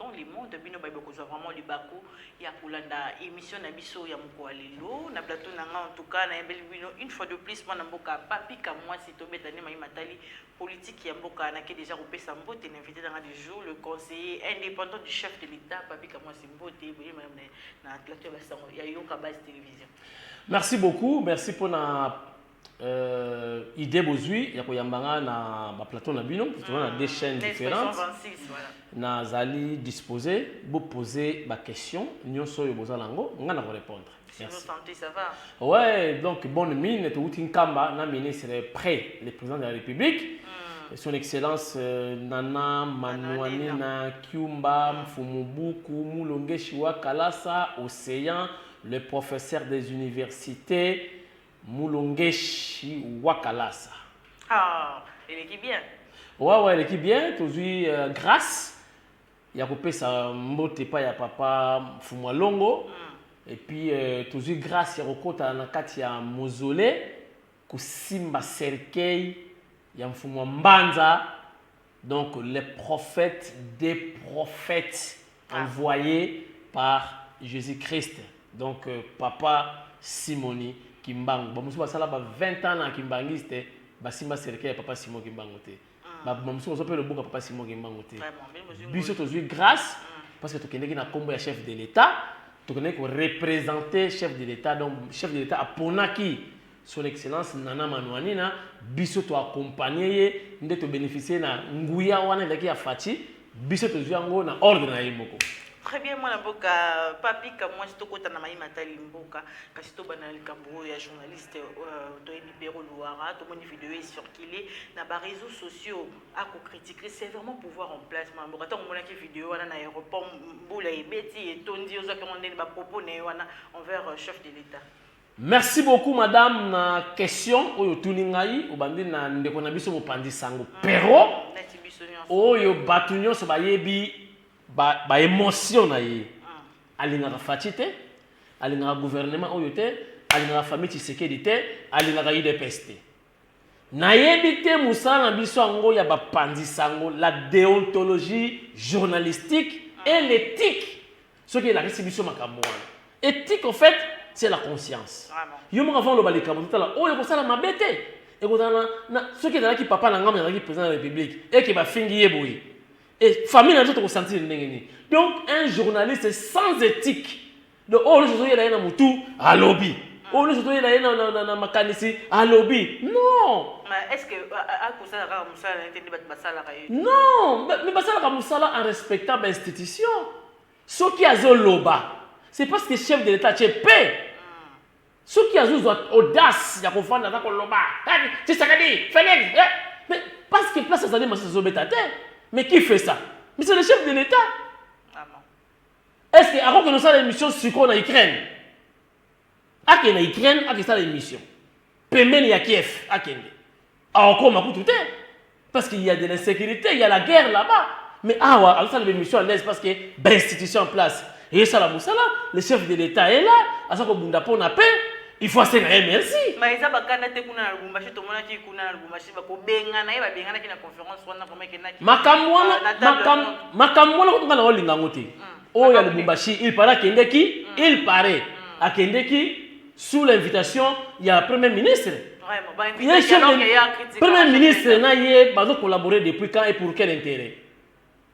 Dans le monde bino baye bokozwa vraiment libaku ya kolanda emission na biso ya mokoa lelo na plateau na nga en tout cas nayembeli bino une fois de plus mwana mboka papi kamwasi tobeta nde mayi matali politique ya mboka nake deja kopesa mbote na invité na nga du jour le conseiller indépendant du chef de l'état papi kamwasi mbote boye madame na, na plateau ya basango ya yoka base télévision merci beaucoup merci pona euh, idée bozui ya koyamba nga na baplateau na bino parce toza na deux chaînes différentes nazali disposé bopose baquestion nyonso oyo boza nango nga na korépondre ouais donc bonne mine touti nkamba na ministre près le président de la république mm. son excellence euh, nana manuanina kiumba mm. mfumubuku mulongeshiwa kalasa océan le professeur des universités Mulungeshi wa Kalasa. Ah, eleki bien. Wawa ouais, eleki bien, tozui uh, grâce ya kopesa mbote pa ya papa Fumwa Longo. Mm. Et puis euh, tozui grâce ya kokota na kati ya mausolée kosimba cercueil ya mfumu mbanza Donc le prophète des prophètes ah. envoyé par Jésus Christ. Donc euh, papa Simoni Kimbangu. Ba musuba sala ba 20 ans na Kimbanguiste, ba simba cercueil ya papa Simon Kimbangu te. Ah. Ba musuba so pe le buka papa Simon Kimbangu te. Biso tozui grâce ah. parce que tokendeki na kombo ya chef de l'État, tokendeki ko représenter chef de l'État. Donc chef de l'État aponaki Son Excellence Nana Manuanina, biso to accompagner ye nde to beneficier na nguya wana ezalaki ya Fatshi, biso tozwi yango na ordre na ye moko. Très bien mwana mboka Papy Kamwasi tokota na maye matali mboka kasi tobanda na likambo oyo ya journaliste euh, toyebi Pero Luwara tomoni video e circuler na ba réseaux sociaux ako critiquer sévèrement pouvoir en place mwana mboka ntango omonaki video wana na aéroport mbula ebeti etondi ozwaki yango ndeni ba propos na ye wana envers euh, chef de l'État Merci beaucoup madame na question oyo otuni ngai obandi na ndeko na biso mopanzi sango pero oyo batu nyonso bayebi ba, ba emotion na ye alingaka faci te alingaka gouvernement oyo te alingaka famille tshisekedi te alingaka udps te Nayebi te mosala na biso yango ya bapanzi sango, la deontologie journalistique et l'ethique soki elakisi biso makambo wana. Ethique au fait c'est la conscience. Yo moko avant oloba likambo totala oyo ekosala mabe te. Ekozala na soki ezalaki papa na ngai ezalaki président de la République et que bafingi ye boye. Et famille na biso tokosentir ndenge nini? Donc un journaliste sans ethique Donc oyo nyonso ozoyela ye na motu alobi oyo nyonso ozoyela ye na makanisi alobi non non mais basalaka mosala en respectant bainstitution soki azoloba c'est parce que chef de l'état ce pe soki azozwa audace ya kofanda na koloba tshisekedi felix eh, mais parce que place azali masisi azobeta te mais qui fait ça mais c'est le chef de l'état Est-ce que ako kende sala emission siko na Ukraine? Ake na Ukraine ake sala emission. Pembeni ya Kiev akende. Akokoma kutu te. Parce qu'il y a de l'insécurité, il y a la guerre là-bas. Mais awa azo sala emission à l'aise parce que ba institution en place. Et ça la musala, le chef de l'État est là, aza ko bunda pona paix. il faut asenga ye merci ma eza bakanda te kuna na lubumbashi tomonaki kuna na lubumbashi bakobengana ye babenganaki na conférence wana vraimen kenaki makambo wana makambo wana kutuka na olinga yango te hmm. oyo oh, ya lubumbashi il paraît akendeki hmm. il paraît hmm. akendeki sous l'invitation ya premier ministre premier ministre na ye bazo collaborer depuis quand et pour quel intérêt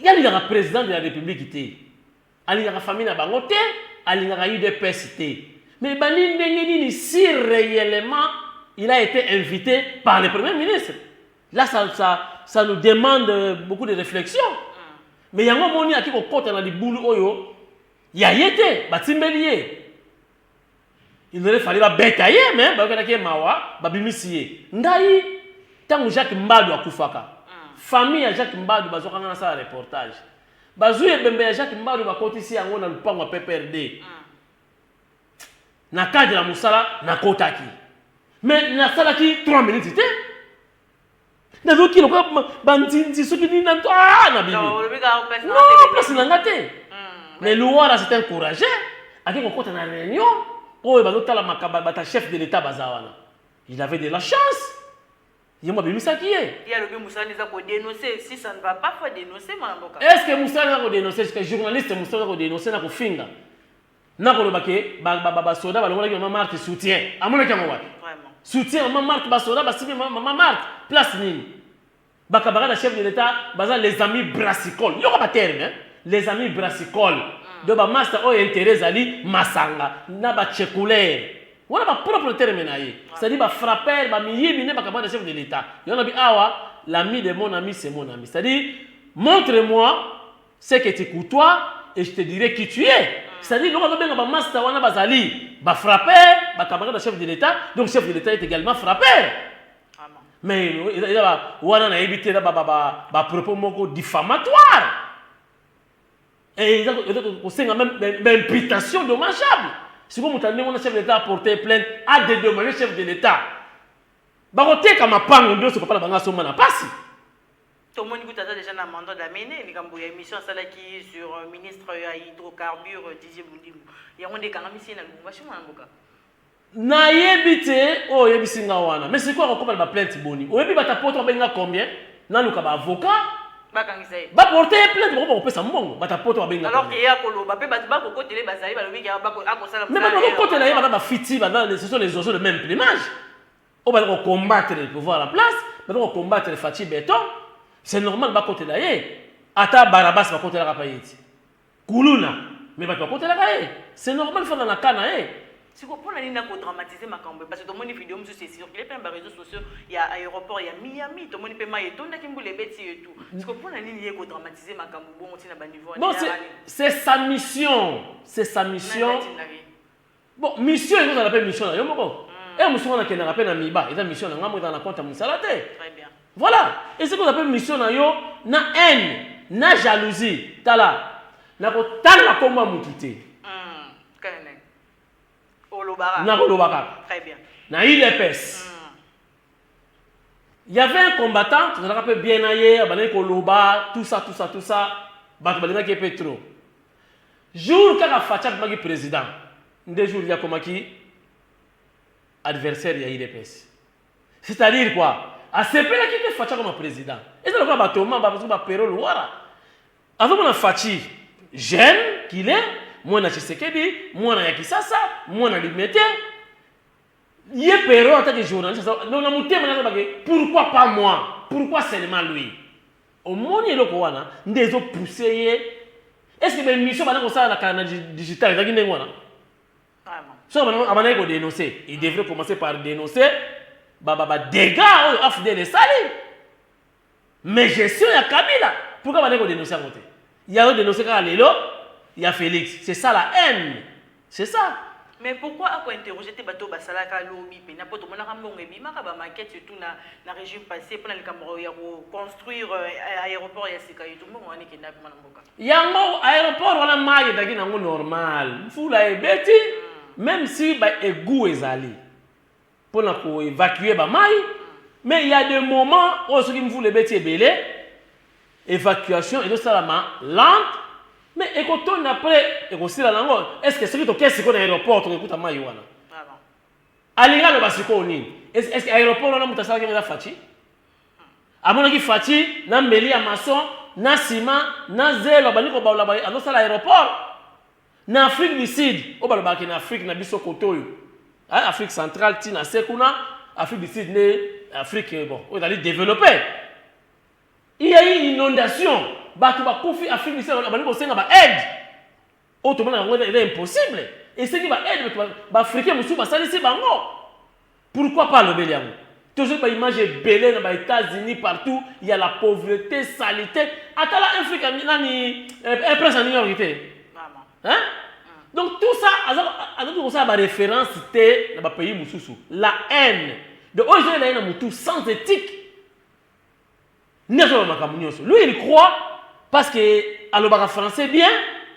Ye alingaka president de la republique te, alingaka famille na bango te, alingaka udps te. Mais ebandi ndenge nini si reellement il a ete invite par le premier ministre? Là ça, ça, ça nous demande beaucoup de reflexion. Mais yango omoni ake kokota na libulu oyo ya ye te, batimbeli ye. il aurait fallu babeta ye me bayokanaki ye mawa babimisi ye ngai ntango jacques mbadu akufaka mm. famille ya jacques mbadu bazwaka ngai nasala reportage bazwi ebembe ya jacques mbadu bakotisi yango na lupango ya pprd mm. na cadre ya mosala nakotaki me nasalaki 3 minutes te nazoki lokola banzinzi soki nini na ah, na bibiplace na nga te hmm, mais luwara c'est un courageux ake kokota na réunion oyo bazotala makaba bata chef de l'état baza wana il avait de la chance ye mo abimisaki ye est ce que mosala eza kodénonce jusqua journaliste mosala eza kodénonce na kofinga Nako loba ke ba ba ba soda ba longolaki maman Marthe soutien. Amonaki yango wapi? Vraiment. Soutien maman Marthe ba soda ba sibi maman Marthe place nini? Ba camarades ya chef de l'etat baza les amis brassicole. Yoka ba terme hein. Les amis brassicole. Mm. Donc ba master oyo intérêt ezali masanga na ba chekulere. Wana ba propre terme na ye. Ah. C'est-à-dire ba frapper ba miyibi ne ba camarades ya chef de l'etat. Yona bi awa l'ami de mon ami c'est mon ami. C'est-à-dire montre-moi ce que tu courtois et je te dirai qui tu es c'est-à-dire eloko azobenga bamasta wana bazali bafrappeur bacamarade ya chef de l'état donc chef de l'état est également frappeur mais eza wana nayebi te eza bapropos moko diffamatoire eza kosenga meme baimputation dommageable sikoyo moto andenge wana chef de l'état aporte plainte adedommage chef de l'état bakoteka mapango nyonso papa na bango asomba na mpasi Tomoni kutu aza dejà na mandat d'amener likambo ya emission asalaki sur ministre ya hydrocarbure Didier Bundimu. Yango nde ekangamisi ye na Lubumbashi mwana mboka. Nayebi te oyo oh, oyebisi nga wana. Mais sikoyo akokoma na ba plainte boni? Oyebi bata poto abengi nga combien? Naluka ba avocat. Bakangisa ye. Ba porter ye plainte bako bakopesa mbongo. Bata poto abengi nga. Alors que ye akoloba pe bato bakokotela ye bazali balobi ke akosala. Mais bato bakokotela ye bana bafiti bana ce sont les oiseaux de même plumage. oyo bali ko combattre le pouvoir en place baza ko combattre Fatshi Beton c'est normal bakotela ye ata Barabas bakotelaka pa ye ti kuluna mais bato bakotelaka ye c'est normal fanda na cas na ye Siko pona nini na ko dramatiser makambo parce que tomoni video mususu e circuler pe na ba reseaux sociaux ya aeroport ya Miami tomoni pe mayi etondaki mbula ebeti ye tout siko pona nini ye ko dramatiser makambo bongo ti na ba niveau wana ya rallye c'est sa mission c'est sa mission Bon mission ezo zala pe mission na yo moko. Heure mosusu nga nakendaka pe na miba eza mission na nga moko ezala na compte ya musala te. Voilà esi kozala pe mission na yo na haine na jalousie tala nako tanga kombo ya mutu te. Nako loba kaka. Na udps. Il y avait un combattant, tout ça, peu bien aye, abandaki koloba, tout ça, tout ça, tout ça. Bato balingaki ye mpe trop. Jour kaka Fatshi abimaki président, nde jour ye akomaki adversaire ya UDPS. C'est-à-dire quoi? Asepelaki te Fatshi akoma président. Eza lokola ba Thomas, ba ba Pero Luwara. Azomona Fatshi jeune qu'il est, mwana Tshisekedi, mwana ya Kisasa, mwana Limete. Ye Perrot en tant que journaliste aza donc na motema naza bake pourquoi pas moi? Pourquoi seulement lui? Omoni eloko wana nde ezo pousser ye est-ce que ba emission bana kosala na kala na digital ezalaki ndenge wana? So abandaki ko denoncer, il devrait commencer par denoncer ba ba ba dégâts oyo AFDL esali. Mais gestion ya kabila pourquoi bandaki ko denoncer yango te? Ya yo denoncer kaka lelo ya Felix c'est ça la haine c'est ça. Mais pourquoi ako interroger te batu oyo basalaka lobi pena po tomonaka mbongo ebimaka ba maquette surtout na na regime passe pona likambo ya ko construire aeroport ya sika etu mbongo wana ekenda wapi mwana mboka? Yango aeroport wana mayi ezalaki nango normal mvula ebeti meme si ba egout ezali pona ko evacuer ba mayi mais il ya de moment oyo soki mvula ebeti ebele evacuation ezo salama lente mais ekotonda après ekosila nango est ce que soki toke siko na aeroport tokokuta mayi wana alingi aloba sikoyo nini est ce que aeroport wana moto asalaki eza faci amonaki faci na mbeli ya mason na sima na zelo abandi kobalola azosala aeroport Na Afrique du Sud, oyo balobaka ke na Afrique na biso kote oyo, eh, Afrique centrale ti na se kuna, Afrique du Sud nde Afrique bon oyo ezali developpe. Il ya eu inondation, batu bakufi Afrique du Sud babandi kosenga ba aide. Oyo tomonaka yango eza impossible. Esengi ba aide batu ba Africains mosusu basalisi bango. Pourquoi pas alobeli yango? Tozui ba image ebele na ba etats unis partout ya la pauvrete salite atala un flic nani un prince ya new york te hein donc tout ça azaki kosala ba référence te na ba pays mosusu la haine donc oyo ezoyela ye na motu sans éthique nde azoloba makambo nyonso lui il croit parce que alobaka français bien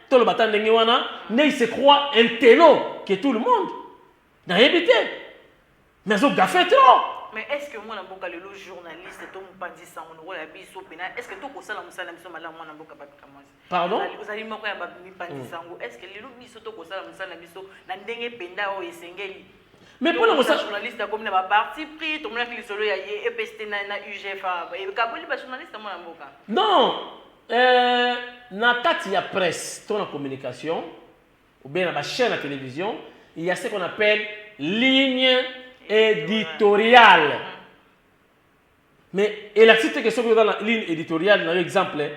toloba ata ndenge wana nde il se croit un telo que tout le monde Nayebi te. Mais azo gaffe trop. Mais est-ce que mwana mboka lelo journaliste to mupanzi sango lokola biso pena est-ce que tokosala musala biso malamu mwana mboka bato kamwasi Pardon ozali moko ya mipanzi mm. sango est-ce que lelo biso tokosala musala biso na ndenge penda oyo esengeli mais mpo na kosala journaliste akomi na baparti pris tomonaki lisolo ya ye epst na, na ugfa ekaboli bajournaliste mwana mboka non euh, na kati ya presse to na communication ou bien na ba chaines ya television il ya ce qu'on appelle ligne editoriale mais elakisi te ke soki oza na ligne editoriale na yo exemple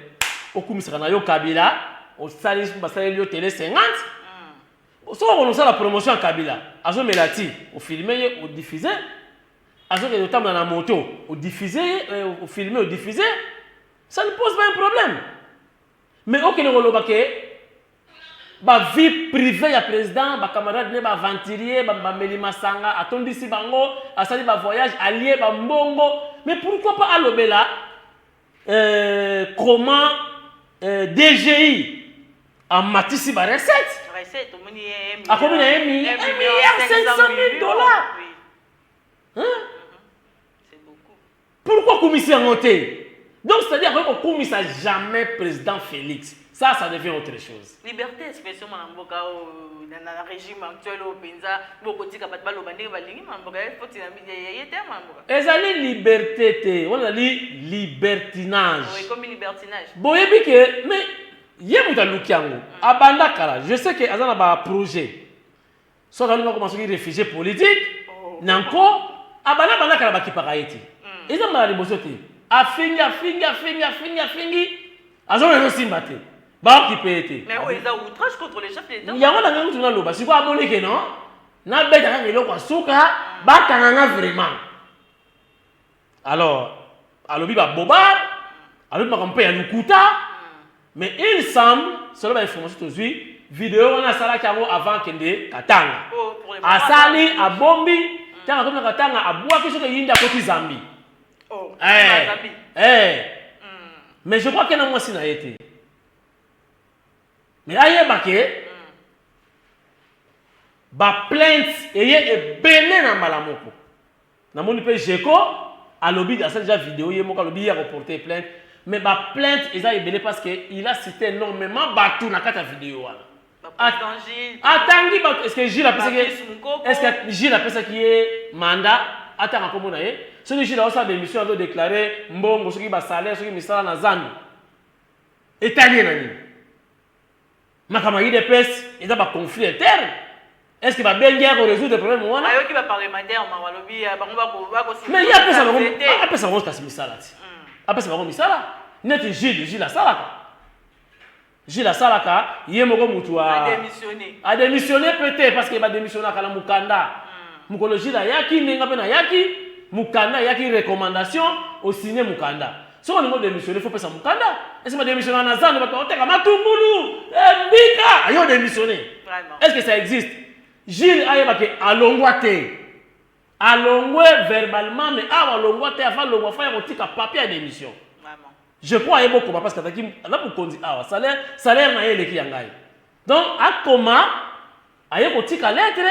okumisaka na yo kabila osali basaleli yo tele 50 mm. soki okona osala promotion ya kabila azomela ti ofilme ye odiffuse azokende otambola na moto odiffuse ye euh, ofilme odiffuse ça ne pose pas un problème mais okende koloba ke Ba vie privee ya president, ba camarades ne ba aventuriers, ba bameli masanga, atondisi bango, asali ba voyages, alie ba mbongo, mais pourquoi pas alobela euh, comment euh, DGI amatisi ba recettes? Recette, omoni ye, un milliard- Akomi na ye mi- un un milliard milliard 500 500 000 dollars. Oui, hein? c'est beaucoup. Pourquoi akumisi yango te? Donc c'est-à-dire akoki kokumisa jamais président Felix. Ça, ça devient autre chose. Liberté expression mwana mboka oyo na, na, na régime actuel oyo mpenza bokotika bato baloba ndenge balingi mwana mboka foti na ye te mwana mboka. Ezali liberté te, wana ezali libertinage. Ekomi libertinage. Boyebi ke mais ye moto aluki yango abanda kala je sais ke aza na baprojet Soki azali bakoma soki refugie politique na nko abanda banda kala bakipaka ye te eza mbala liboso te afingi afingi afingi afingi afingi azomona ezosimba te baokipe ye te Mais oyo eza outrage contre le chef de l'État. yango na ngai kutu naloba sikoyo amoni ke non nabeta kaka eloko ya suka bakanga nga vraiment Alors, alobi ba bobar, alobi makambo mpe ya lokuta, mais il semble, selon ba information tozwi, video wana asalaki yango avant akende Katanga. Asali, abombi, ntango akomi na Katanga, abwaki soki eyindi akoti Zambie. Oh, eh, eh. Mm. Mais je crois que na mwasi na ye te. Mais ayeba ke mm. ba plainte eye ebele na mbala moko. Na moni pe Geco alobi asali dejà video ye moko alobi ye ako porter plainte mais ba plainte eza ebele parce que il a cite enormement batu na kati ya video wana. Atangi batu est ce que Jules apesaki ye est ce que Jules apesaki ye mandat atanga kombo na ye? Soki Jules azo sala ba emission azo declarer mbongo soki ba salaire soki misala na zando etali ye na nini? Makambo ya udps eza ba conflit interne est ce que babengi ya koresoudre problème wana ayoki baparlementaire mawa alobi ya bango mais ye apesa bango apesa bango kasi misala ti hmm. apesa bango misala neti jules jules asalaka jules asalaka ye moko motu adémissionne peut te parce que badémissionnaka na mokanda hmm. mokolo jules ayaki ndenge mpe nayaki mokanda ayaki recommandation osigne mokanda Soki olingi odemissione, faut pesa mukanda. Est-ce que demissiona na zando bato bakoteka matungulu, eh, mbika, ayo odemissione. Est-ce que ça existe? Jules ayeba ke alongwa te. Alongwe verbalement mais awa alongwa te avant alongwa fa ya kotika papier ya demission. Je crois ayeba okoma parce que azalaki na mokonzi awa salaire salaire na ye eleki ya ngai. Donc akoma aye kotika lettre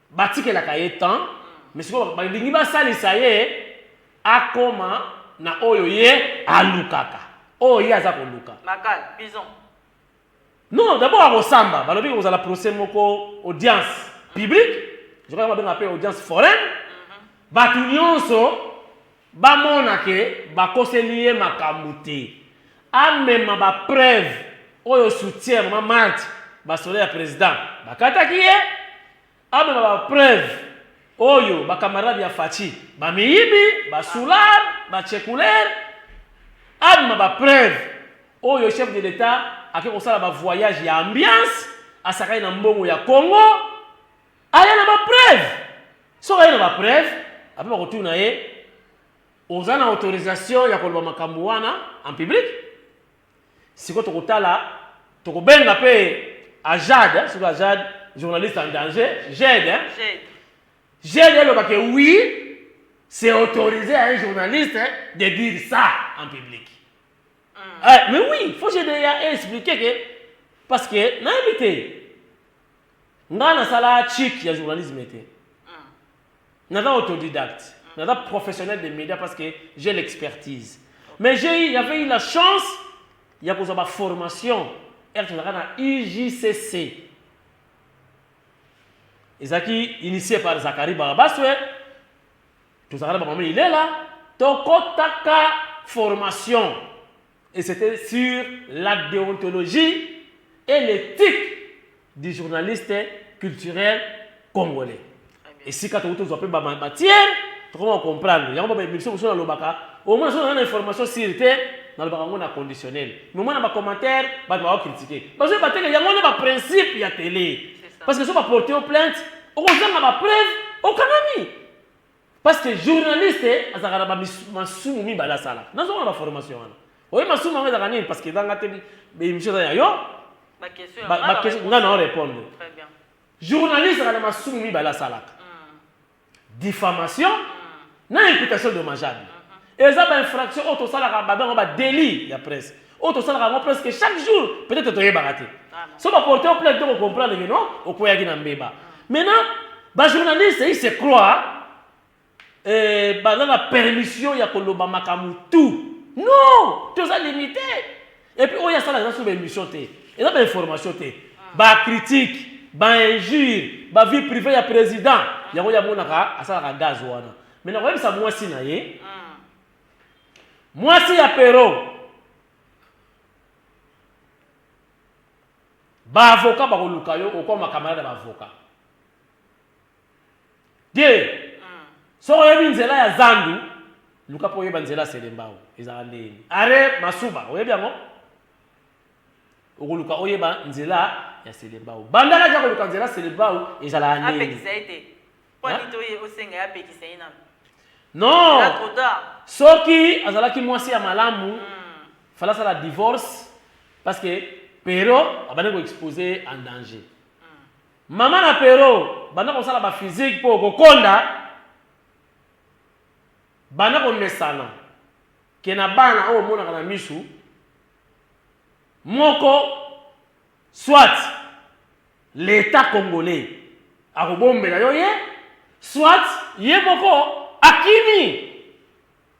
Batikelaka ye temps mais sikoyo balingi basalisa ye akoma na oyo ye alukaka oyo ye aza koluka. Makal, bison. Non d'abord akosamba balobi ekozala procès moko audience publique je crois yango babengaka pe audience foraine batu nionso Bamona que bakoseli ye makambu te. Amema ba preuves oyo soutien ya mama Marthe ba soda ya president bakataki ye. Amema ba preuves oyo ba camarades ya Fatshi ba miyibi, ba soulard, ba chekuleur. Amema ba preuves oyo chef de l'etat ake kosala ba voyages ya ambiance, asakani na mbongo ya Congo. aya na ba preuve soki aye na ba preuve ape bakotuna ye oza na autorisation ya koloba makambo wana en public siko tokotala tokobenga mpe ajad eh, soki ajad journaliste en danger jed eh. jed elobake eh, oui c'est autorisé à un journaliste de dire ça en public mm. eh, mais oui faut je déjà expliquer que parce que nayebi te Nga na sala chic ya journalisme te. Naza autodidacte. Naza professionnel des médias parce que j'ai l'expertise. Mais j'ai eu, j'avais eu la chance ya kozwa ba formation ere tozalaka na UJCC. Ezalaki initie par Zachary Barabaswe, tozalaka na bamama ilela, tokotaka formation. et c'etait sur la deontologie et l'ethique du journaliste culturel congolais esika tokuti tozwa mpe bamatière tokoma comprendre yango babaemission mosusu nalobaka omona soki naza na information sire te nalobaka yango na conditionnel mais omona bacommentaire bato bakokritike bazwi bateke yango nde baprincipe ya tele parce que soki baporte yo plainte okozanga bapreuve okangami Parce que journaliste azalaka na ba masumu mibale asalaka. Nazo mona ba formation wana. Oye masumu yango ezalaka nini parce que ezanga te ba émission eza ya yo. Ba question ba, ba question nga na répondre. Très bien. Journaliste azalaka na masumu mibale asalaka. Mm. Diffamation mm. na imputation dommageable. Mm -hmm. Eza ba infraction oyo tosalaka ba bengaka ba delit ya presse. Oyo tosalaka yango presque chaque jour, peut-être toyebaka te. So ba porter plainte to ko comprendre que non, okweyaki na mbeba. Maintenant, ba journalistes ils se croient euh, baza na permission ya koloba makambo tout. Non, toza limité. Et puis oyo asalaka eza so ba émission te. Eza ba information te. Ba critique, ba injure, ba vie privée ya président. Yango yamonaka asalaka gaz wana. Mais nakoyebisa mwasi na ye. Mm. Mwasi ya Pero. Ba avocat bakoluka yo okoma camarade ba avocat. Te. Mm. Soko oyebi nzela ya zandu, luka po oyeba nzela selembao. Ezala ndeni. Are masuba, oyebi yango? Okoluka oyeba nzela ya selembao. Bandaka ja koluka nzela selembao ezala ndeni. Apekisa ete. Non! Soki azalaki mwasi ya malamu, hmm. fallait asala divorce parce que Pero abandi ko expose en danger. Hmm. Mama na Pero banda kosala ba physique mpo kokonda, banda komesana ke na bana oyo omonaka na misu, moko Soit l'etat congolais akobombela yo ye, soit ye moko akimi.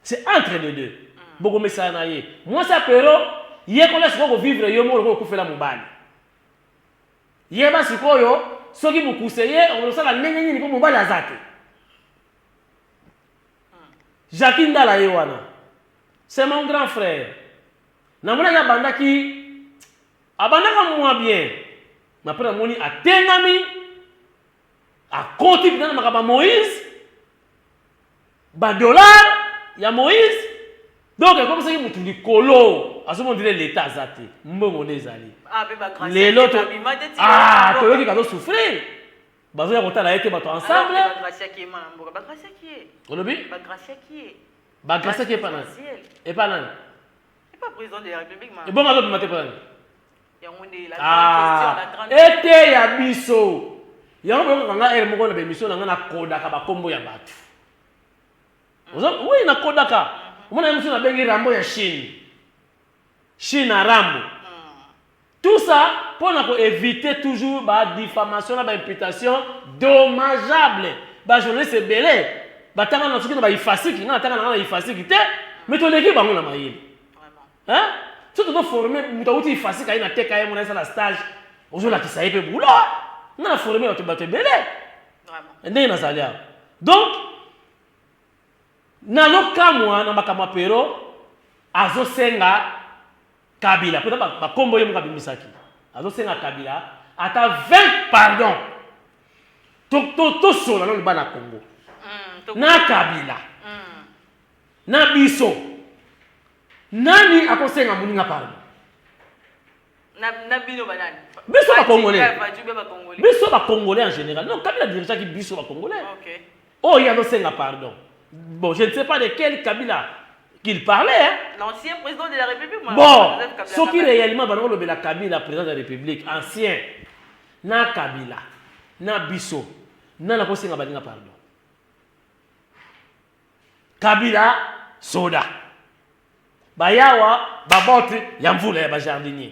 C'est entre les deux. Bokomesana na ye. Mwasi ya Perrot, yekola sikoyo ko vivre yo moko lokola okufela mobali. Yeba sikoyo soki mukuse ye okosala ndenge nini po mobali aza te. Jacquie Ndala ye wana. C'est mon grand frère. Namonaki abandaki Abandaka mua bien mais après namoni atengami akoti penza na makambo ya Moïse ba dollars ya Moïse donc ekomisaki mutu likolo azomona ndire l'etat aza te mbongo nde ezali ah, lelo ah, toyoki kazo souffrir bazoya kotala ye te bato ensemble olobi bagrasiaki epa nani epa nani ebongo azobima te mpona nini eteya biso yango boyokaka nga ere moko na bemission na nga nakodaka bakombo ya bato oui nakodaka omona ye mosusu nabengi rambo ya chine chine arambo Tout ça mpo na ko eviter toujours ba diffamations na ba imputations dommageables. Ba journalistes ebele batanga na soki na ba ifasic, nga natanga na nga na ifasic te, mais toleki bango na mayele. Hein? Soki tozo former moto awuti ifasic aye na TKM wana esala stage, ozo lakisa ye mpe boulot. Nga na former bato bato ebele. Ndenge nazali awa. Donc nazo kamwa na makambo ya Perrot azo senga Kabila pona ba, ba kombo ye moko abimisaki. Azosenga Kabila ata 20 pardon. To to to sola nanu bana Congo. Mm, na Kabila. Mm. Na biso. Nani akosenga muninga pardon? Na na bino banani? Biso ba Congolais. Biso ba Congolais en général. Non, Kabila dirigeaki biso ba Congolais. Okay. Oyo azo senga pardon. Bon je ne sais pas de quel Kabila qu'il parlait hein. L'ancien président de la République ma Bon, soki réellement bana olobela Kabila président de la République ancien na Kabila na biso na na kosenga balinga pardon. Kabila soda. Bayawa babote ya mvula ya ba jardinier.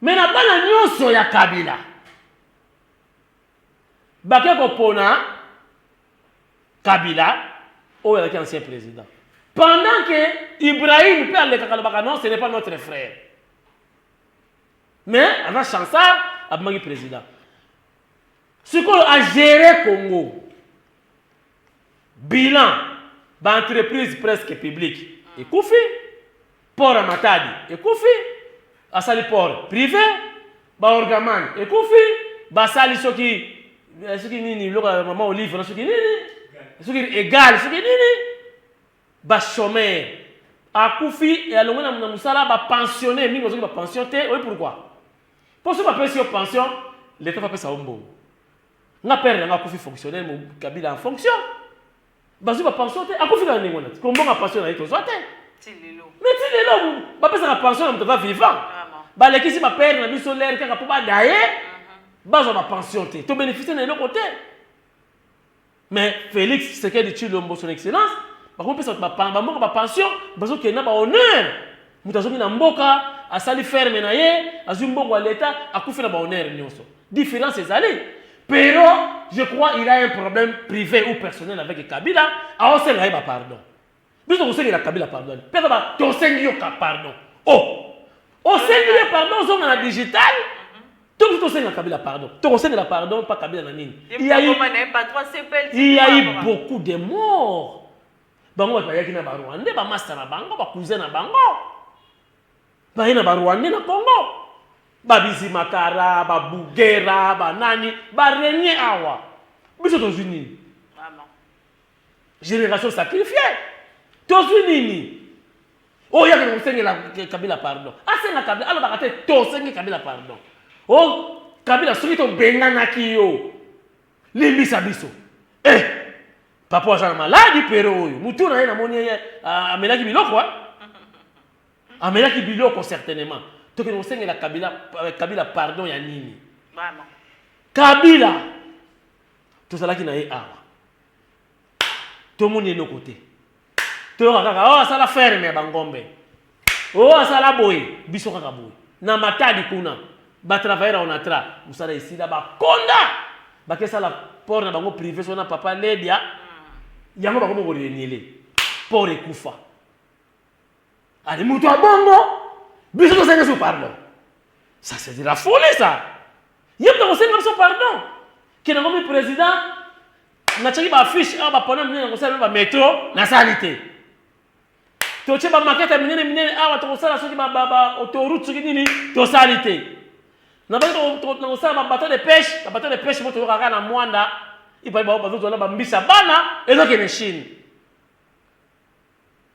Mais na bana nionso ya Kabila bake kopona Kabila oyo alaki ancien president pendant que Ibrahim mpe alekaka alobaka non ce n'est pas notre frère mais aza chansard abimaki president sikoyo agere Congo Bilan, ba entreprises presque publiques ekufi, port ya Matadi ekufi, basali port prive, ba orgaman ekufi, basali soki eh, soki nini biloko ya mama olive na soki nini soki egal soki nini ba chômeurs akufi alongwe na mosala ba pensionner mingi bazoki ba pension te oyebi pourquoi mpo soki bapesi yo pension leta va pesa yo mbongo nga père na nga akufi fonctionnaire mo kabila en fonction bazwi bapension te akufi kaka ndenge wana ti kombonga pension na ye tozwa te mais ti lelo bapesaka pension na moto aza vivant balekisi bapere na biso lere kaka mpo badaye mhm. bazwa bapension te tobénéficie na eloko te mais félix tshisekedi tshilombo son excellence bakomipesa bato bamoko bapension bazokende na bahonneur Moto azongi na mboka, asali ferme na ye, azwi mbongo ya leta, akufi na ba honneur nyonso. Difference ezali. Pero, je crois il a un problème privé ou personnel avec Kabila, aosenga ye ba pardon. Biso tokosengela Kabila pardon. Pesa ba tosengi yo ka pardon. Oh. Osengi ye pardon zonga na digital. To biso tosenga Kabila pardon. Tokosengela pardon pa Kabila na nini? Il y a eu, il y a eu beaucoup de morts. Bango bato bayaki na Barwande, bamasta na bango, bakuze na bango baye na Barwande na Congo, babizimakara, babugera, banani barenye awa, biso tozwi nini? Generation sacrifie, tozwi nini? oyo yaka kosengela kabila pardon asenga kabila alobaka te tosengi kabila pardon o oh, kabila soki tobenganaki yo Limbisa biso. Eh! Papa aza na maladi pero oyo. Mutu na ye na moni ye amelaki biloko. Hein? Amelaki biloko certainement. Toke no sengela Kabila euh, Kabila pardon ya nini? Vraiment. Kabila tozalaki na ye awa. tomoni eloko te toyoka kaka oyo oh, asala ferme ya bangombe oyo oh, asala boye biso kaka boye na matadi kuna batravailleur ya onatra mosala esila bakonda bakesala port na bango privé so na papa ledia yango bakomi koreniele port ekufa Allez, moto ya bongo biso tosenga biso pardon ça c'est de la folie ça ye moto akosenga biso pardon kende ngomi président natyaki baaffiche awa bapona minene nakosala ba metro nasali te totye bamakete minene minene awa tokosala soki autoroute soki nini tosali te nabaki nakosala babateau de pêche babateau de pêche mo toyokaka na mwanda ipai bazozwa na bambisa bana ezokende chine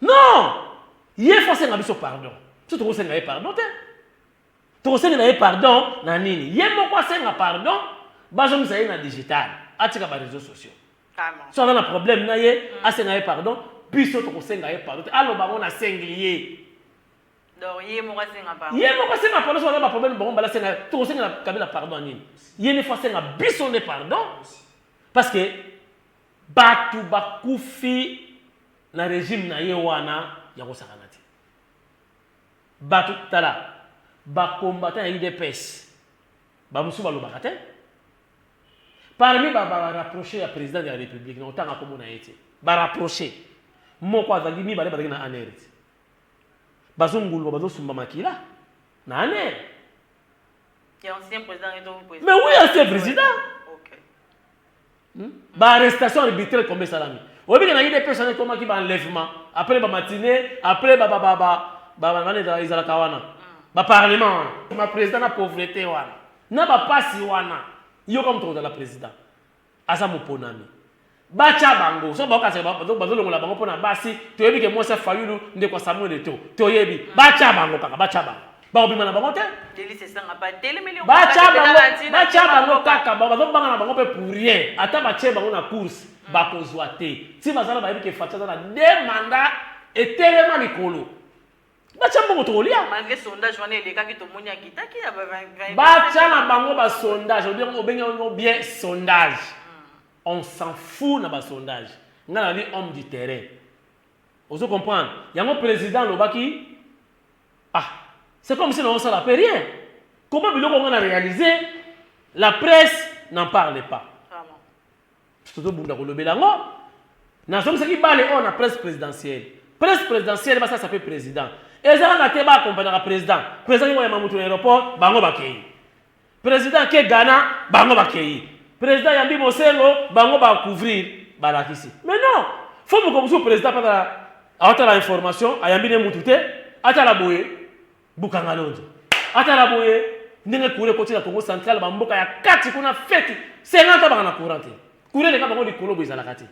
non ye fo asenga biso pardon biso tokosenga ye pardon te tokosengela ye pardon na nini ye moko asenga pardon bazongisa ye na digital atika bareseau sociaux so aza na problème na ye mm. asenga ye pardon biso tokosenga ye pardon te aloba yango nasengi ye ye moko asenga pardon so aza baproblème bango mbala asenga tokosengela kabila pardon ya nini ye nefo asenga biso nde pardon parce que Batu bakufi na regime na ye wana ya kosakana te. Batu, tala ba combattants ya udps ba mosusu balobaka te. Parmi ba ba rapproches ya president de la republique, nakotanga kombo na ye te, ba rapproches moko azali, mibale bazalaki na anr ti bazonguluma, bazosumba makila na anr. Ya ancien president, mais oui ancien president. Hmm? Ba arrestation arbitraire combien salami? Oyebi na IDPS wana ekomaki ba enlèvement, après ba matinée, après ba ba ba ba ba ba ba ezalaka wana. Ba parlement wana. Ma président na pauvreté wana. Na ba pasi wana. Yo kama moto kozala président. Aza moponami. Bacha bango. So ba kasa ba ba bazo longola bango pona basi. Toyebi ke mwasi ya Fayulu ndeko Samuel Eto. Toyebi. Bacha bango kaka, bacha bango. bakobima na bango te batya bango kaka bazobanga na bango mpe pour rien ata batye bango na course hmm. bakozwa te ti bazala bayebi ke fati aza na de manda etelema likolo batya mbongo tokolya batya na bango basondage obengi yango bien sondage hmm. on s'en fout na basondage ngai nali homme du terrain ozo comprendre yango président alobaki Ah c'est comme si nazo sala pe rien comment biloko nga na realiser la presse n'en parle pas tozo bunda ko lobela ngo na zongisaki bale oyo na presse présidentielle presse présidentielle ba sasa pe président eza kaka te ba accompagnaka président président ngi ko yamba mutu na aéroport bango ba keyi President ake Ghana bango bakeyi. President ayambi Bosengo bango ba couvrir balakisi. Mais non! Faut mokolo mosusu president pe atala atala information ayambi ne mutu te atala boye Bukangalonzo atala boye ndenge courant ekoti na Congo central ba mboka ya kati kuna feti 50 ans baka na courant te. Courant eleka bango likolo boye ezalaka te.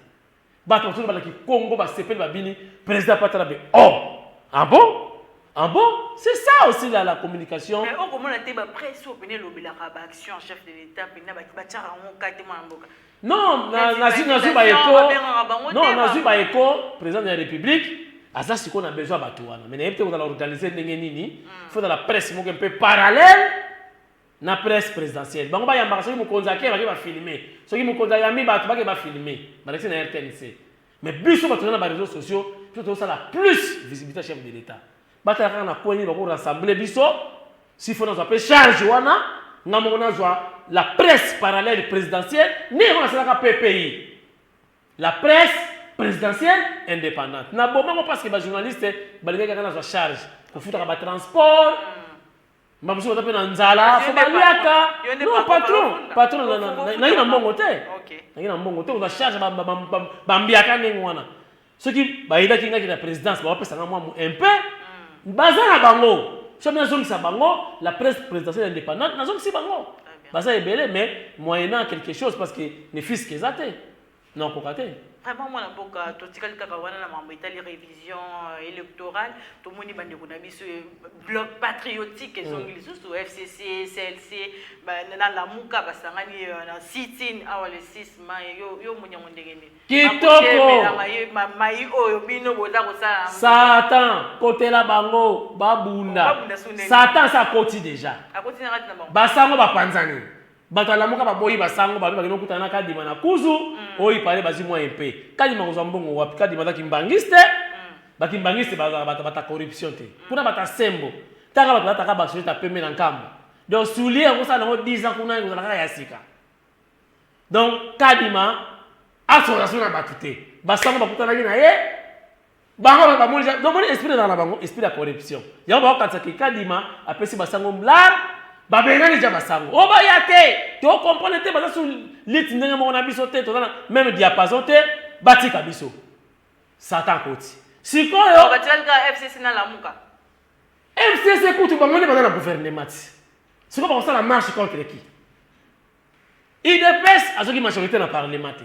Batu bazo loba na kikongo ba sepeli ba bini president apata na be oh ah bon ah bon c'est ça aussi la la communication. Mais oko mona te ba presse oyo pena elobelaka ba action chef de l'etat pena ba ba tiaka ngo ka te mwana mboka. Non na na zui na zui ba eko non na zui ba eko president ya republique aza siko na besoin batu wana mais na yebite kozala organiser ndenge nini mm. faut na la presse moko un peu parallèle na presse presidentielle bango bayambaka soki mokonzi ake bake bafilme soki mokonzi ayambi bato bake bafilme balakisi na rtnc mais biso bato na na bareseau sociaux biso tozosala plus visibilité ya chef de l'état batala kaka na coin nini bako rassembler biso sifo nazwa mpe charge wana nga moko nazwa la presse parallèle présidentielle nde yango nasalaka ppi la presse présidentielle indépendante na bomango parce que bajournaliste balingaki kaka nazwa charge kofutaka batransport mbala mosusu baza mpe na nzala fo baliaka no patron patron nangi na mbongo te nangi na mbongo te oza charge bambiaka ndenge wana soki bayinaki ngaki na présidence bawapesanga mwa un peu hmm. baza na bango soki nazongisa bango la presse présidentielle indépendante nazongisi bango baza ebele mais moyennant quelque chose parce que ne fiske eza te Non akoka te. Vraiment mwana mboka totikali kaka wana na mambo etali revision euh, electorale tomoni bandeko na biso euh, bloc patriotique ezongi mm. lisusu fcc clc na lamuka basangani euh, na sitin awa le 6 mai yo, yo monyango ndenge nini kitokoi oyo bino boza kosala satan kotela bango babunda satan sa akoti deja basango bapanzani Bato ya Lamuka baboyi ba sango babe bakende kokutana na Kadima na Kuzu, oyo il parait bazwi moyen mpe. Kadima akozwa mbongo wapi? Kadima aza kimbanguiste, ba kimbanguistes bazalaka bato bata corruption te. Kuna bata sembo. Tala bato balataka ba sweat ya pembe na Nkamba. Donc soulier yango osala na yango 10 ans kuna ekozala kaka ya sika. Donc Kadima asola soni na bato te. Ba sango bakutanaki na ye, bango ba bamoni ja donc moni esprit na na bango esprit ya corruption yango ba kanisa ki kadima apesi basango mlar babengani ja basango o oh, baya te to comprendre te baza su lit ndenge moko na biso te toza na même diapason te batika biso satan koti sikoyo batikali kaka fcc na lamuka fcc kutu bango nde baza na gouvernement ti sikoyo bakosala marche contre qui idps azoki majorité na parlement te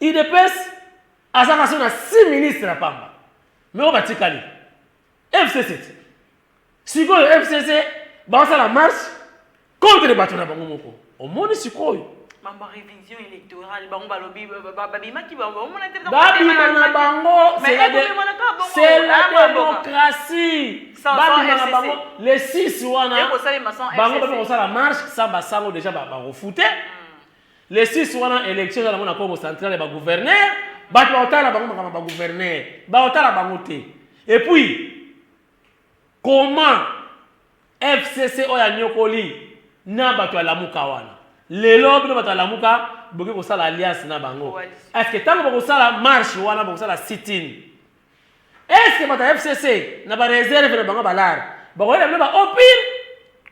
udps aza kasi na six ministre ya pamba me oyo batikali fcc ti sikoyo fcc basala marche contre bato na bango moko omoni sikoyo mambo ya révision électorale bango balobi babimaki baomona te babima na bango c'est la démocratie babima na bango les six wana bango bape kosala marche sans basango déjà bakofute hmm. Le 6 wana election eza nango na Congo central ya ba gouverneur, bato bakotala bango makambo ya ba gouverneur, bakotala bango te. Et puis comment FCC oyo anyokoli na bato ya Lamuka wana, lelo bino bato ya Lamuka bokoki kosala alliance na bango? Est-ce que tango bokosala marche wana, bokosala sit-in, Est-ce que bato ya FCC na ba reserve na bango balar bakoyela bino ba opir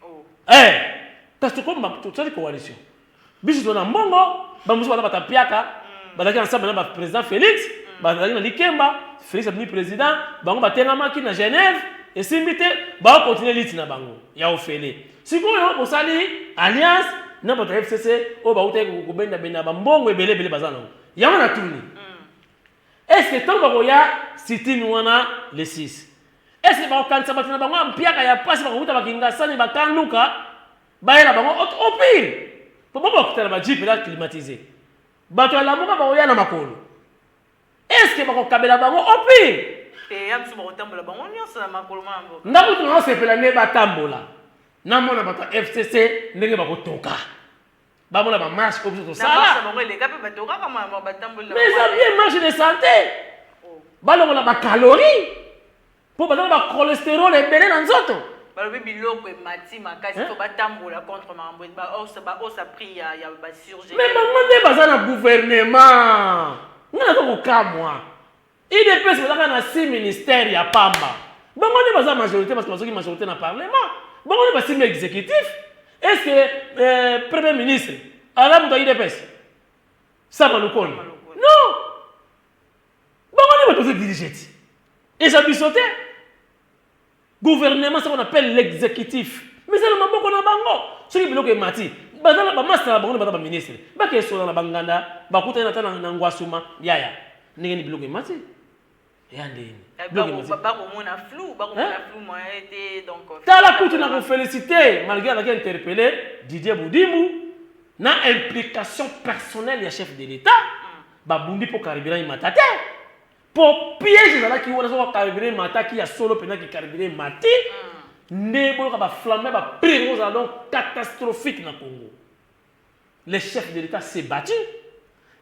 oh. eh kasi tokomba tosali coalition biso tozala na mbongo bamosusu baza batapiaka mm. bazalaki ensemble na baprésident félix mm. bazalaki na likemba félix abimi président bango batengamaki na genève esimbi te baokontinue liti na bango ya ofele sikoyo bosali alliance na bato ya fcc oyo bautaki kobendabenda bambongo ebele ebele baza nango yango natuni mm. Est ce que tango bakoya sitting wana le 6 est ce que bakokanisa bato na bango ya mpiaka ya pasi bakokuta ba kingasani ba camp luka bayela bango au pire po bango bakuta na ba jeep eza climatise bato ya lamuka bakoya na makolo est ce que bakokabela bango au pire te ya biso bakotambola bango nyonso na makolo mwana mboka nga kutu naosepela nde batambola namona bato ya fcc ndenge bakotoka bamona ba marche oyo biso tosala mais eza bien marche de santé oh. balongola bacalorie mpo baza na bacholesterol ebele na nzoto balobi biloko emati makasi to batambola contre makambo baosa prix ya basurge mais bango nde baza na gouvernement ngai naza kokamwa Udps baza kaka na six ministères ya pamba. Bango nde baza majorité parce que bazoki majorité na parlement. Bango nde basimbi exécutif. Est-ce que euh, premier ministre aza moto ya udps? Sama Lukoni. Non. Bango nde bato bazo dirige ti. Eza biso te. Gouvernement ce qu'on appelle l'executif. Mais eza na maboko na bango. Soki biloko emati, baza na ba masta na bango baza ba ministre. Bake esola na banganda, bakutani ata na ngwasuma, yaya. Ndenge ni biloko emati? Yaya ndenge ni. Eh, biloko emati. Bako mona flou, bako mona eh? flou moyen eh, te donc. Euh, Tala kutu na ko féliciter malgré avec interpellé Didier Boudimou na implication personnelle ya chef de l'État. Mm. Babundi po carburant imata te. Po piège ezalaki wana soki carburant emataki ya solo penza que carburant emati nde boyoka ba flammes ya ba prix ekoki kozala donc catastrophique na Congo. Le chef de l'Etat s'est battu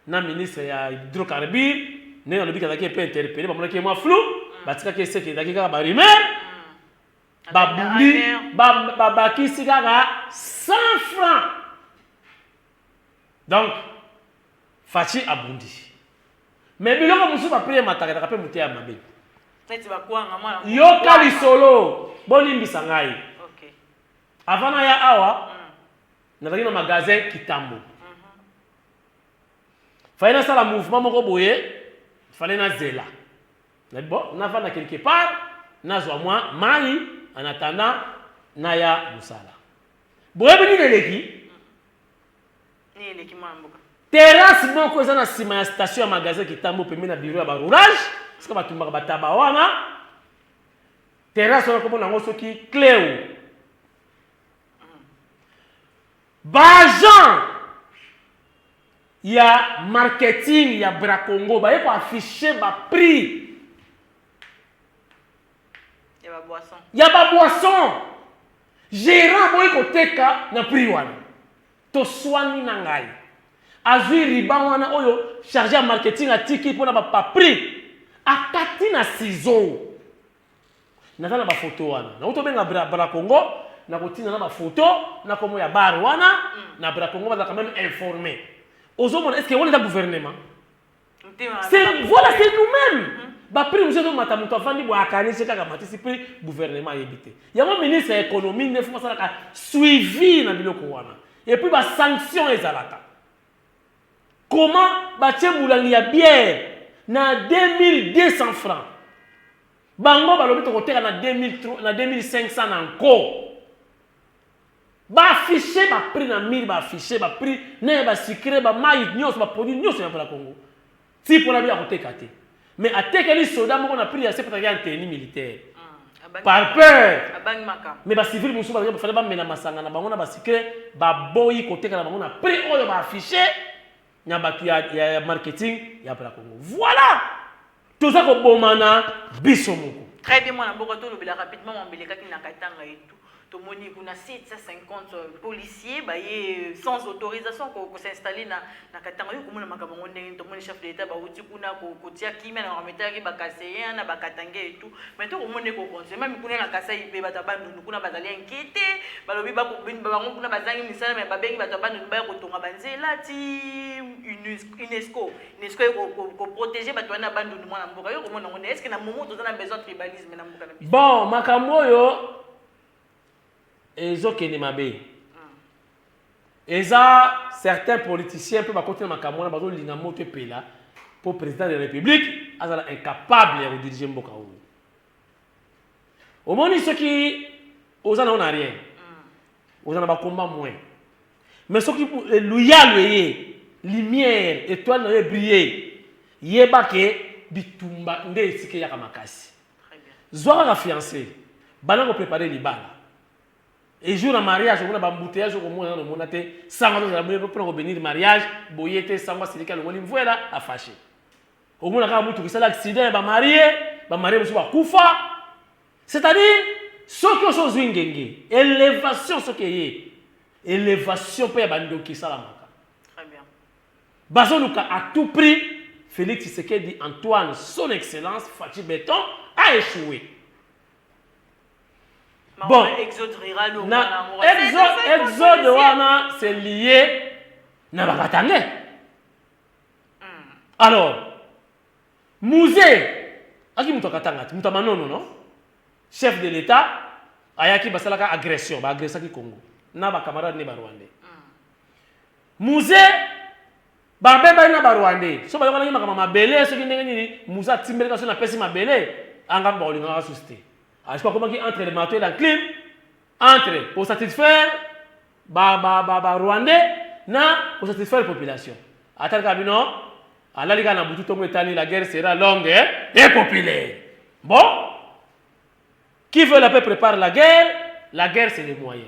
na ministre ya hydrocarbures ndenge alobi que azalaki un peu interpelle bamonaki ye mwa flou batikaki ye seke ezalaki kaka ba rumeurs babundi babakisi kaka 100 francs donc Fatshi abundisi mais biloko mosusu ba prix ematakelaka pe moteya mabe. Neti ba kwanga mwana mboka. Yoka lisolo bolimbisa ngai. Okay. Avant naya awa mm. nazalaki na magasin Kitambo. Mm -hmm. Fallait nasala mouvement moko boye, fallait nazela. Na bon, navanda quelque part, nazwa mwa mai en attendant naya mosala. Boyebi nini eleki? Terrasse moko eza na sima ya station ya magasin Kitambo pembeni na bureau ya ba roulage, sika batumbaka ba taba wana. Terrasse wana komona yango soki Cleo. Ba agent ya marketing ya Bracongo baye ko afficher ba prix ya ba boissons Gerant aboyi koteka na prix wana. Toswani na ngai. Azui riban wana oyo charge ya marketing atiki pona ba pa prix. Akati na ciseaux. Naza na ba photo wana. Nakuti obenga bra bra congo na kotinda na ba photo na kombo ya bar wana na bra congo bazalaka meme informe. Ozo mona est ce que wana eza gouvernement? C'est voilà c'est nous-mêmes. Mhm. Ba prix nous sommes mata mutu afandi bo akani c'est kaka matisi prix gouvernement yebite. Yango ministre ya économie ne faut pas salaka suivi na biloko wana. Et puis ba sanctions ezalaka. Comment ba tie mulangi ya bière na 2200 francs. Bango balobi tokoteka na 2000 na 2500 na nko. Ba afficher ba prix na mur ba afficher ba prix na ya ba sucre ba mayi nionso ba produits nionso ya Congo. Type wana akoki koteka te. Mais atekeli soda moko na prix ya se pataki en tenue militaire. Par peur. Mais ba civils mosusu bazali fallait bamela masanga na bango na ba sucre baboyi koteka na bango na prix oyo ba afficher. na batu ya, ya, ya marketing ya Bra Congo. Voilà! Toza kobomana biso moko. Très bien, mwana mboka, tolobela rapidement mambo elekaki na Katanga et tout. tomoni kuna 750 euh, policiers baye euh, sans autorisation kosinstalle na, na katanga yo komona makambo yango ndenge tomoni chef de l'état bauti kuna kotia kimia na bametalaki bakaseyen na bakatange etu Mais to komona eko continuer meme kuna na Kasaï pe bato ya Bandundu kuna bazali inquiete balobi ba bango kuna bazangi misala mais babengi bato ya Bandundu baya kotonga ba nzela ti UNESCO UNESCO eko ko protéger bato wana ya Bandundu mwana mboka yo komona ngo est-ce que na moment toza na besoin tribalisme na mboka na biso bon makambo oyo Ezo kende mabe. Eza certains politiciens pe bakoti na makambo wana bazo linga moto epela po president de la republique azala incapable ya ko diriger mboka oyo. Omoni soki oza na yo na rien. Oza na ba combat moins. Mais soki loyal eye lumière etoile na yo e briller yeba ke bitumba nde esika eyaka makasi. zwa kaka fiance banda ko prepare libala et jour ya mariage omona bambuteyage okomona nano omona te sango azozala boye mpona kobenir mariage boye te sango asiliki alongoli mvuela afashe okomona kaka mutu kisala accident ya bamarie bamarie mosusu bakufa c'est à dire soki oso ozwi ngenge elevation soki eye elevation mpe ya bandoki esalamaka Bazoluka à tout prix Felix Tshisekedi Antoine son excellence Fatshi Beton a echoue. Bon, na exode wana se lie na bakatangais. Hmm. Alors, musee aki moto akatanga te moto ya manono no chef de l'état ayaki basalaka agression baagressaki congo na bacamarade ne barwandais Muze babebani na ba Rwandais. So bayokanaki makambo ya mabele soki ndenge nini Muze atimbeli kasi napesi mabele anga mpe bakolingaka susu te. Ajiko akomaki entre le marteau et la clim entre ko satisfaire ba ba ba ba Rwandais na ko satisfaire population. Atali kaka bino alali kaka na butu tongo etani la guerre sera longue et populaire. Bon qui veut la paix prépare la guerre, la guerre c'est le moyen.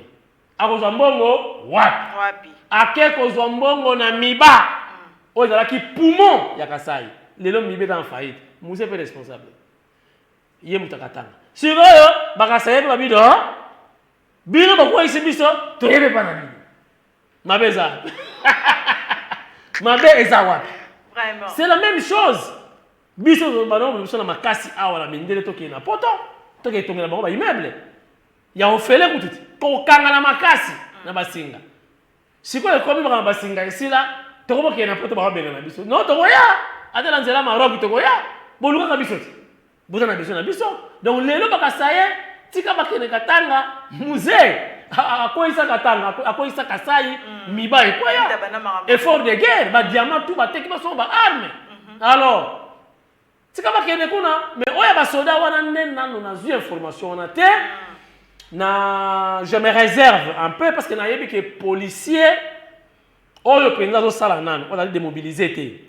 Akozwa mbongo wapi? Wapi? Ake kozwa mbongo na Miba mm. oyo ezalaki poumon ya Kasai. Lelo Miba eza en faillite. Muse pe responsable. Ye moto akatanga. Sikoyo bakasaye pe babido bino bokweyisi biso toyebi epa na bino mabe eza wapi mabe eza wapi c'est la même chose biso banango biso na makasi awa na mindele tokende na poto tokende tongela bango baimmeuble ya ofele kutu te kokangana makasi na basinga sikoyo ekomi makambo basinga esila tokobokee na poto bakobengana biso no tokoya ata na nzela maroki tokoya bolukaka biso te boza na biso na biso donc lelo bakasaye tika bakende katanga musee akweyisa katanga akweyisa kasai mm. miba ekweya effort de guerre badiamant tu bateki basongo baarme mm-hmm. alors Tika bakende kuna mais oyo ya basoda wana nde nano nazwi information wana te na je me réserve un peu parce que nayebi ke policier oyo mpenza azosala nano ozali demobilise te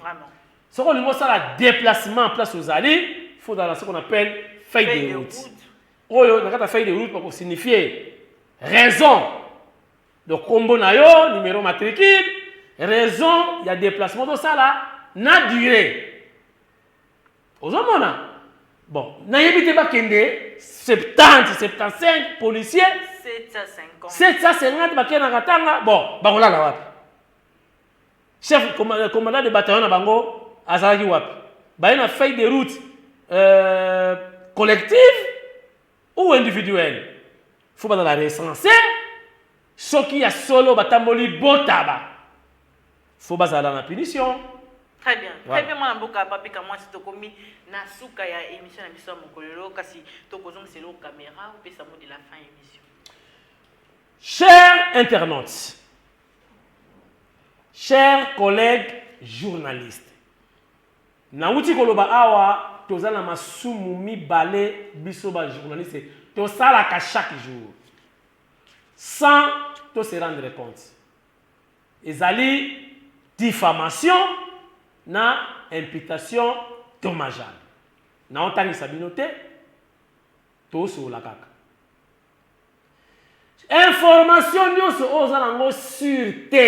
soki olingi osala déplacement place ozali faut ozala ce qu'on appelle feuille de route oyo na kati ya feuille de route bakosignifie raison Donc kombo na yo, numero matricule, raison ya deplacement to sala na durée. Ozomona? Bon, nayebi te bakende 70, 75 policiers 750. 750 bakenda Katanga, bon, bakolala wapi? Chef commandant de bataillon na bango azalaki wapi? Baye na feuille de route euh, collective ou individuel faut bazala recense soki ya solo batamboli botaba faut bazala na punition. Très bien. Voilà. Très bien mwana mboka papi kamwasi tokomi na suka ya émission na biso ya mokolelo kasi tokozongisa eloko caméra opesa mot de la fin émission. Chers internautes, chers collègues journalistes, Nawuti koloba awa toza na masumu mibale biso ba journaliste tosalaka chaque jour sans to se rendre compte. Ezali diffamation na imputation dommageable. Nao tangisa bino te, to solola kaka. Information nionso oyo oza nango sur te,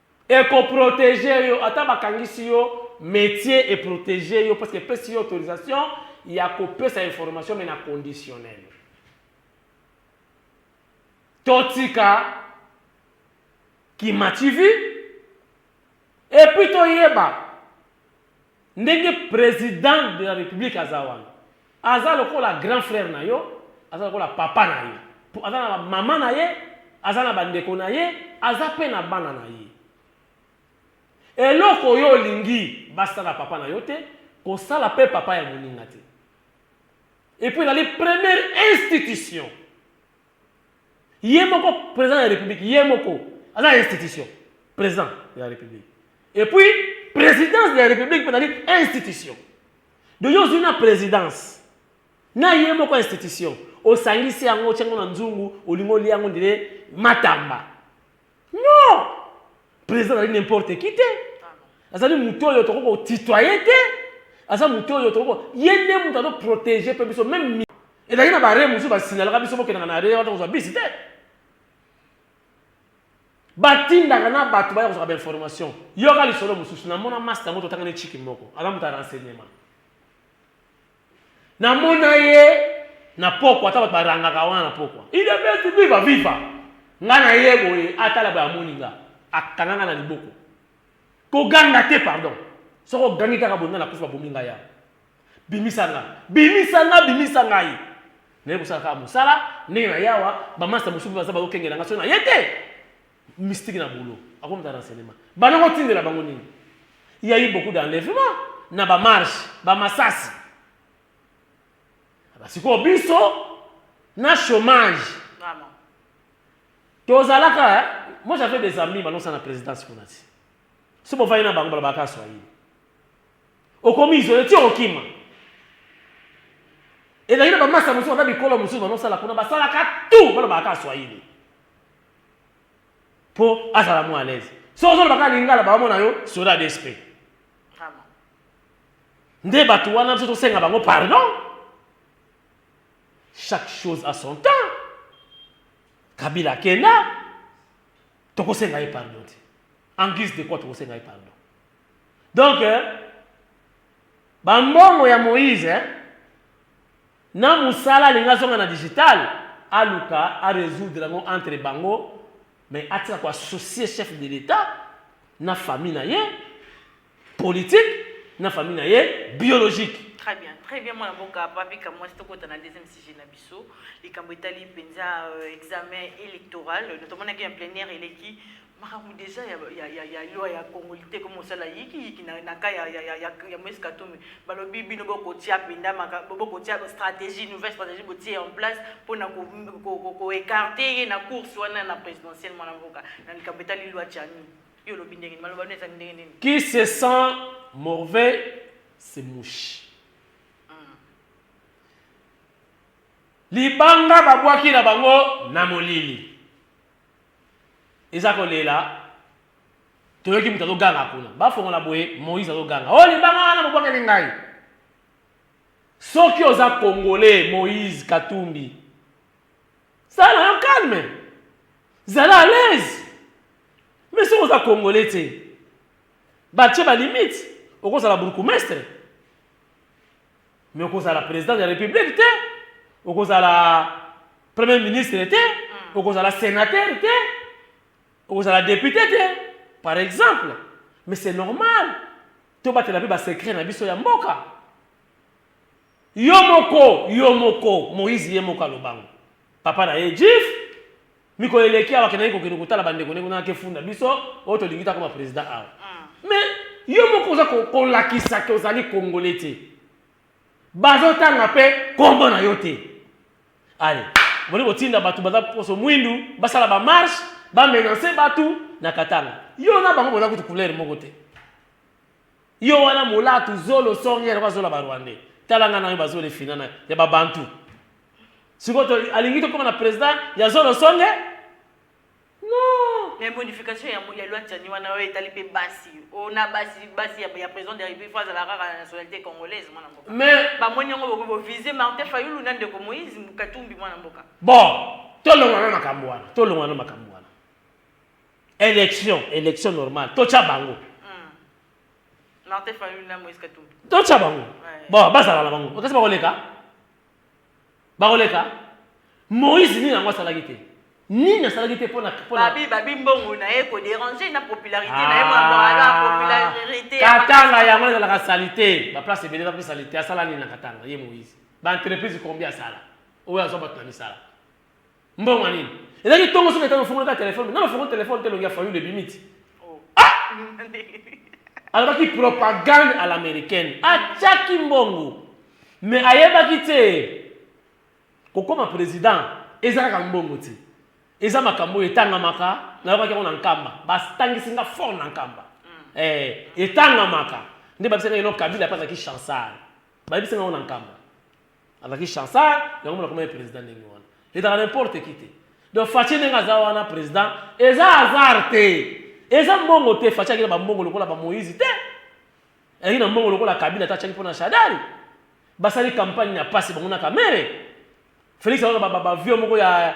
Eko proteger yo ata ba kangisi yo metier e proteger yo parce que epesi yo autorisation ya ko pesa information mais na conditionnel. To tika ki machivi et puis to yeba Ndenge president de la republique aza wana aza lokola grand frère na yo aza lokola papa na yo po aza na mama na ye aza na bandeko na ye aza pe na bana na ye eloko yo olingi basala papa na yo te kosala pe papa ya moninga te epuis ezali première institution ye moko president ya republique ye moko aza institution president ya republique et puis présidence ya republique mpe ezali institution donc yo ozwi na présidence na ye moko institution osangisi yango otya yango na nzungu olingi olia yango ndire matamba non président azali n'importe qui te azali moto oyo tokoki kotitoye te aza moto oyo tokoki ye nde moto azo protege mpe biso meme ezali na bare mosusu basignalaka biso bokendaka na are wata kozwa bisi te batindaka na bato baya kozwaka bainformation yoka lisolo mosusu namona masta yango totangani chiki moko aza moto ya renseignement Na mona ye na pokwa ata batu ba rangaka wana na pokwa udps viva viva nga na ye boye atala boye amoni nga akanga nga na liboko ko ganga te pardon soki ogangi kaka boye nga na kufi ba bomi nga ya bimisa nga bimisa nga bimisa ngai na ye kosala kaka musala ndenge na yawa ba masta mususu baza bazo kengela nga soki na ye te mystique na boulot akomi ta renseignement bana ko tindela bango nini il y a eu beaucoup d'enlèvement na ba marche ba masasi ah, basiko biso na chômage tozalaka eh? moi j'avais des amis balonsa na présidence kuna ti so bovandi na bango balobaka swahili okomi izole ti okima ezali na bamasa mosusu baza bikolo mosusu banosala kuna basalaka tu balobaka swahili po azala mua alaise soki ozoloba kaka lingala baomona yo soda de sp nde bato wana biso tosenga bango pardon chaque chose à son temps kabila akenda tokosenga ye pardon te en guise de quoi tokosenga ye pardon donc euh, bambongo ya moïse eh? Na musala alingi azonga na digital aluka a resoudre yango entre bango mais atika ko associer chef de l'etat na famille na ye politique na famille na ye biologique. Très bien très bien mwana mboka papy kamwasi tokota na deuxième sujet na biso likambo etali mpenza examen electoral tomona ke en plenière eleki makambo deja ya, ya, ya, ya loi ya congo te ko mosala yikiyiki na, na ka ya, ya, ya, ya, ya moise katumbi balobi bino bokotia mpenza bokotia stratégie nouvelle stratégie botie en place mpo na koekarte ye na course wana na présidentielle mwana mboka na likambo etali loi chani yo olobi ndenge nini maloba no ezali ndenge nini qui se sent morvais se mouche hmm. libanga babwaki na bango na molili eza kolela toyoki moto azoganga kuna bafongola boye moïse azoganga oyo oh, libanga wana bobwakeli ngai soki oza congolais moïse katumbi sala yo calme zala à l'aise mais soki oza congolais te batie balimite okozala bourgmestre mais okozala président de la république te okozala premier ministre te hmm. okozala sénateur te okozala député te par exemple mais c'est normal tobatela mpe basecret na biso ya mboka yo moko yo moko moïse ye moko alobango papa na ye jif Mikolo eleki awa akendaki kokende kotala bandeko ndenge nake funda biso oyo tolingi te akoma president awa mais yo moko oza ko- kolakisa ke ozali kongole te bazotanga mpe kombo na yo te ale boni kotinda bato baza poso mwindu basala bamarshe bamenanse bato na katanga yo na bango boza kutu couleur moko te yo wana molatu zolo songe yango azola barwandais talanga na yo bazole fina na ya babantu sikoyo to- alingi tokoma na president ya zolo songe non mais modification ya, ya loi tchani wana oyo etali mpe basi o na basi basi ya, ya président de la république fo azala kaka na nationalité congolaise mwana mboka mais bamoni yango bokoki bovise martin fayulu na ndeko moïse katumbi mwana mboka bon tolongwa na makambo wana tolongwa na makambo wana élection élection normale totya bango Hmm. martin fayulu na moïse katumbi totya bango Ouais. bon bazala na bango okasi bakoleka bakoleka moïse nini yango asalaki te nini asalaki te mpona babi babi mbongo na ye koderange na popularité na ye mwana ah. popularité katanga yango ezalaka salite baplace ebele bape salite asala nini na katanga ye moïse baentreprise combien asala oyo azwa bato na misala Mbongo nini? Ezalaki tongo soki etano fongoli ka telefone, nano fongoli telefone te longi ya fayulu ebimi ti. Oh. Ah! alobaki propagande à l'américaine atyaki mbongo me ayebaki te kokoma président eza kaka mbongo te eza makambo oyo etangamaka nayokaki yango na nkamba batangisi nga fort na nkamba mm. eh, etangamaka nde babisaka ino kabila mpe azalaki chansar bayebisi nga yango na nkamba azalaki chansard yango mona komaki président ndenge wana ezalaka n'importe qui te donc faci ndenge aza wana président eza hasard te eza mbongo te faci akina bambongo lokola bamoïse te ayaki na mbongo lokola kabila ata atyaki mpo na shadari basali campagne ya mpasi bango na kamere felix aoka bavio moko ya